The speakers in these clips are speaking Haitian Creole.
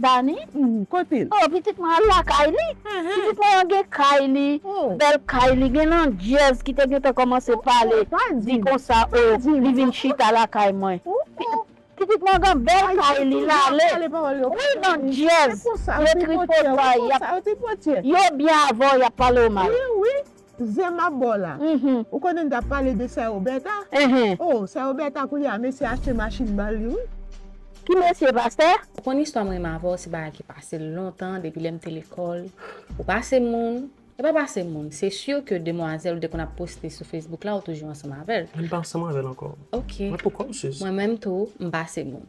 Dani, Humm kote l? Oh pitit mwen al lakay li. Pitit mwen an gen kay li, bèl kay li, gen landjèz ki te gentan kòmanse pale di konsa oh li vin chita lakay mwen. Pitit mwen gen bèl kay li, l ale. Wi landjèz yo tripotay, yo byen avè w y ap pale w mal. Zen map baw la. Ou konnen tap pale de sè Roberta? Oh sè Roberta koulye a mesye achte machine ba li wi. Ki mesye pastè? Ou konn istwa mwen menm avèw se bagay ki pase lontan depi lèm te lekòl ou pase moun e pa pase moun se sur ke demwazèl ou te konn ap poste sou Facebook la ou toujou ansanm avèl. Mwen pa ansanm avèl ankò. Ok. Mwen poko msuz. Mwen menm tou mpase moun.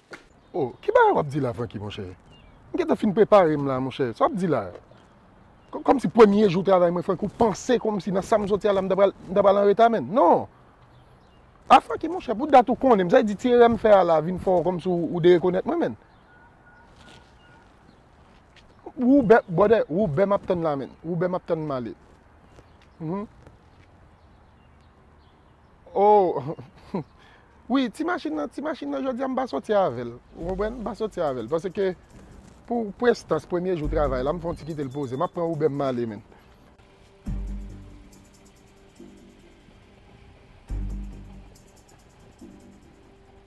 Oh ki bagay wap di la Francky monchè? M gentan fin prepare m la monchè, sa wap di la? Kòmsi premye jou travay mwen Francky ou panse kòmsi nan sam soti a la m ta pral m ta pral anreta menn non Ah Francky monchè pou dat ou konnen m sa vle di ti erè m fè a la vin fè w kòmsi ou derekonèt mwen menn Woubè brother woubè map tann la menn woubè map tann m ale Humm. Oh Wi ti machin nan, ti machin nan jodi a m pa soti avè l ou konprann, m pa soti avè l paske pou prestans premye jou travay la m fè yon ti kite l poze, m ap pran Uber m ale menm.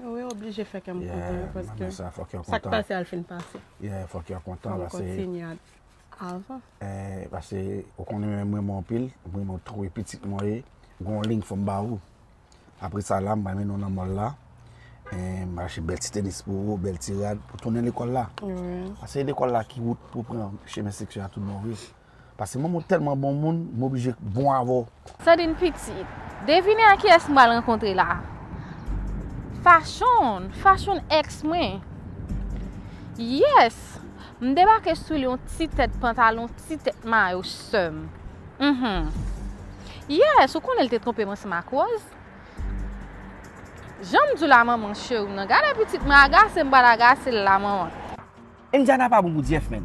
Ou yo oblije fè kèm kontan wi paske sa k pase a l fin pase. Yeah fòk yo kontan paske. Fòm kontinye avan. Eh paske ou konnen menm mwen renmen w anpil, mwen renmen w twò e pitit mwen ye. Gen yon lign fòm ba ou. Apre sa la m pral mennen w nan mòl la. M pral achte bèl ti tenis pou ou, bèl ti rad pou tounen lekòl la. Paske se lekòl la ki wout pou pran chemen seksyon a tout bon vre. Pase mom ou telman bon moun m oblije bon avè w. Sandine pitit. Devine a kiyès m pral rankontre la. Fashion! Fashion ex mwen. Yes! M debake sou li yon ti tèt pantalon, ti tèt mayo seum. Uhmm. Yes! Ou konnen l te twonpe m ansanm ak Rose. Jan m di w la manman cheri m nan. Gade pitit mwen agase m pral agase l la manman. Indiana pa bon pou Jeff menn.